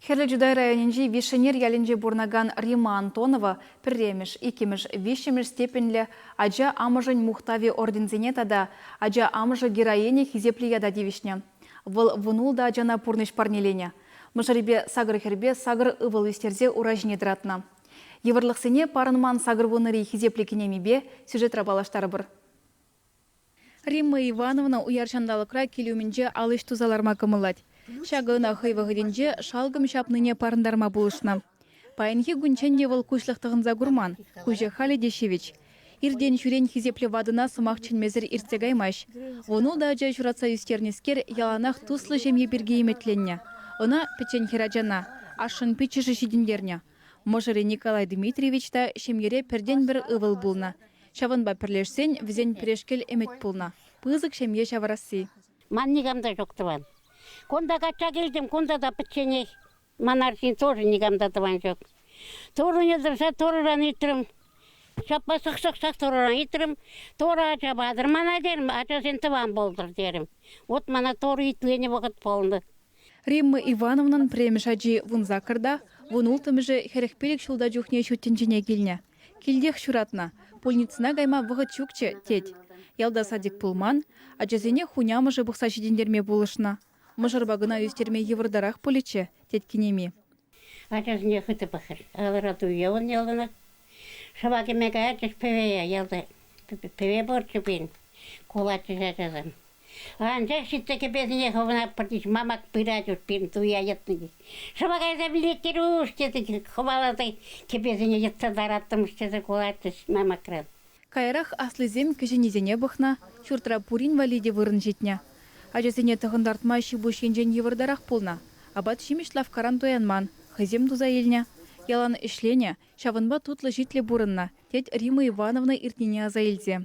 Хӗрлӗ Чутай районӗнчи Вишӗнер ялӗнче пурӑнакан Римма Антонова пӗрремӗш, иккӗмӗш, виҫҫӗмӗш степеньлӗ Ача амӑшӗн мухтавӗ орденсене тата Ача амӑшӗ героиня хисеплӗ ята тивӗҫнӗ. Вӑл вун-ултӑ ачана пурнӑҫ парнеленӗ. Мӑшӑрӗпе сакӑр хӗрпе сакӑр ывӑл ӳстерсе ура ҫине тӑратнӑ. Йывӑрлӑхсене парӑнман сакӑр вуннӑри хисеплӗ кинемипе сюжетра паллаштарӑпӑр. Римма Ивановна уяр ҫанталӑкра кил умӗнче ал ӗҫ туса ларма кӑмӑллать. Ҫакӑ ӑна хӑй вӑхӑтӗнче шалкӑм ҫапнине парӑнтарма пулӑшнӑ. Паянхи кунччен те вӑл куҫлӑх тӑхӑнса курман, куҫӗ халӗ те ҫивӗч. Иртен-ҫӳрен хисеплӗ ватӑна сӑмах чӗнмесӗр иртсе каймасть. Вун ултӑ ача ҫуратса ӳстернӗскер яланах туслӑ ҫемье пирки ӗмӗтленнӗ. Ӑна, пӗччен хӗрачана, ашшӗн пиччӗшӗ ҫитӗнтернӗ. Мӑшӑрӗ Николай Дмитриевич та ҫемьере пӗртен-пӗр ывӑл пулнӑ. Ҫавӑнпа пӗрлешсен вӗсен пӗрешкел ӗмӗт пулнӑ, пысӑк ҫемье ҫавӑрасси. Ман никам та ҫук тӑван. Кунта качча килтӗм, кунта та пӗчченех. Ман арҫын тоже никам та тӑван ҫук. Турӑне тӑрса Турӑран ыйтрӑм. Ҫапла сӑхсӑхсах Турӑран ыйтрӑм. Турӑ ача патӑр мана терӗм, ачасен тӑван пултӑр терӗм. Вот мана Турӑ итленӗ вӑхӑт пулнӑ. Римма Ивановнан премӗш ачи вун саккӑрта, вун улттӑмӗшӗ хӗрӗх пилӗк ҫулта чухне ҫут тӗнчене килнӗ. Килтех ҫуратнӑ. Пульницӑна кайма вӑхӑт ҫукчӗ, тет. Ялта садик пулман, ачасене хунямӑшӗ пухса ҫитӗнтерме пулӑшнӑ. Мӑшӑрпа кӑна ӳстерме йывӑртарах пулӗччӗ, тет кинеми. Ачасене хытӑ пӑхрӗ. Ларату явӑн яланах. Шӑпа кӗме каятчӗҫ пӗвее ялти. Пӗве пурччӗ пулин, кулатчӗҫ ачасем. Анчах ҫитсе кӗпесене хӑвнаппӑртич мамак пырать ут пирӗн туя йӑтнӑ. Шӑпа кайса пӗлет, Кирюш, тесе хӑваласа кӗпесене йӑтса тараттӑмӑш тесе кулатчӗҫ мамакран. Каярах аслисем кӗҫӗннисене пӑхнӑ, ҫуртра пурин валли те вырӑн ҫитнӗ. Ачасене тӑхӑнтартма ҫипуҫ енчен йывӑртарах пулнӑ, апат-ҫимӗҫ лавккаран туянман, хӑйсем туса илнӗ. Ялан ӗҫленӗ, ҫавӑнпа тутлӑ-ҫитлӗ пурӑннӑ, тет Рима Ивановна иртнине аса илсе.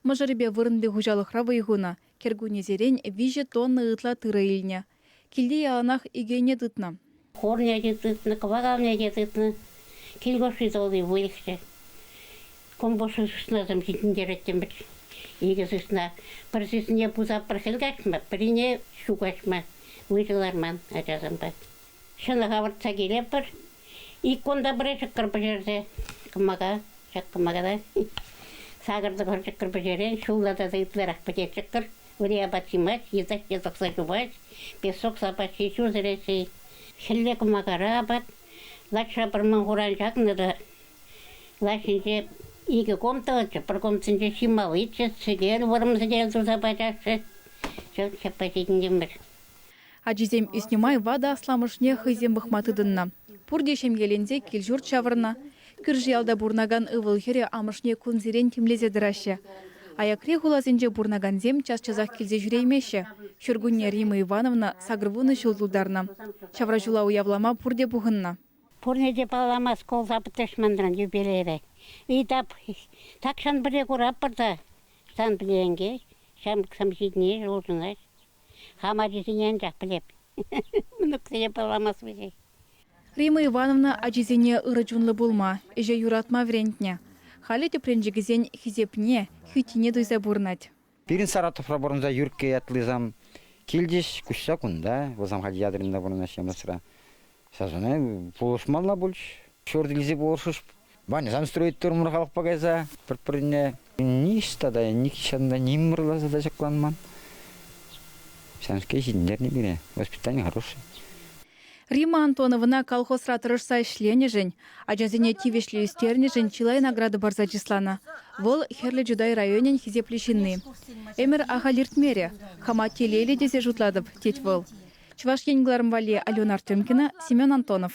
Мӑшӑрӗпе вырӑнти хуҫалӑхра вӑй хунӑ, кӗркуннесерен виҫӗ тонна ытла тырӑ илнӗ. Килте яланах икӗ ӗне тытнӑ. Хорне те тытнӑ, кӑвакалне те тытнӑ. Кил хушши тулли выльӑхсем, компот сыснасем ҫитӗнтереттӗмӗр. Икӗ сысна, пӗр сысне пусап пӗр хӗл каҫма, пӗрине ҫу каҫма выҫӑ ларман ачасемпе. Ҫӑнӑх авӑртса килетпӗр. Ик кунта пӗрре ҫӑкӑр пӗҫерсе кӑмака, ҫак кӑмакара сакӑр-тӑхӑр ҫӑкӑр пӗҫерен ҫулла тата ытларах пӗтет ҫӑкӑр. Ури апат ҫимасть, йытӑсне тӑкса чупать, песок сапаҫҫи ҫуртӑреҫҫӗ. Хӗлле кӑмакара апат лачра пӑрман хуран ҫакнӑ та лаҫ ҫинче икӗ ком тӑвӑччӗ, пӗр комсенче ҫималличчӗ, сӗтел, вӑрӑм сӗтел туса пачаҫҫӗ. Ҫак ҫаппа ҫитӗнтӗмӗр. Ачисем ӳснӗ май ватӑ асламӑшне хӑйсем пӑхма тытӑннӑ. Пурте ҫемьеленсе кил-ҫурт ҫавӑрнӑ. Кӳрши ялта пурӑнакан ывӑл-хӗрӗ амӑшне кунсерен тимлесе тӑраҫҫӗ. Аякри хуласенче пурӑнакансем час-часах килсе ҫӳреймеҫҫӗ. Ҫуркунне Рима Ивановна сакӑрвунӑ ҫул тултарнӑ. Ҫавра ҫула уявлама пурте пухӑннӑ. Пурне те паллама шкул тапӑтӑш манран юбилейре. Итап, тахҫан пӗрле куратпӑр та, сан пӗлен-ке, ҫамрӑксем ҫитӗнеҫҫӗ, улшӑнаҫҫӗ. Хам ачисене анчах пӗлеп. Мӑнуксене пӑламас вӗҫех. Римма Ивановна ачисене ырӑ чунлӑ пулма, ӗҫе юратма вӗрентнӗ. Халӗ тӗпренчӗкӗсен хисепне, хӳттине туйса пурӑнать. Пирӗн Саратовра пурӑнса Юркке ятлисам килчӗҫ. Куҫса кунта, вӑл Самхаль Ядринра пурӑнаҫҫӗ, Мӑсра. Сасӑна пулӑшмалла пулчӗ. Ҫурт илсе пулӑшӑш. Ваньӑсан строить турӑмӑр халӑхпа кайса пӗр-пӗрне. Ниҫта та, нихҫан та ним мӑрласа та ҫакланман. Ҫавӑнскер ҫитӗнтернӗ пире. Воспитание хорошее. Рима Антоновна колхозра тӑрӑшса ӗҫленӗшӗн Ачасене тивӗҫлӗ ӳстернӗшӗн чылай награда парса чысланӑ. Вӑл, Хӗрлӗ Чутай районӗн хисеплӗ ҫынни. Ӗмӗр ахаль иртмерӗ, хама телейлӗ тесе шутлатӑп, тет вӑл. Чӑваш Ен кӑларӑм валли Алена Артемкина, Семен Антонов.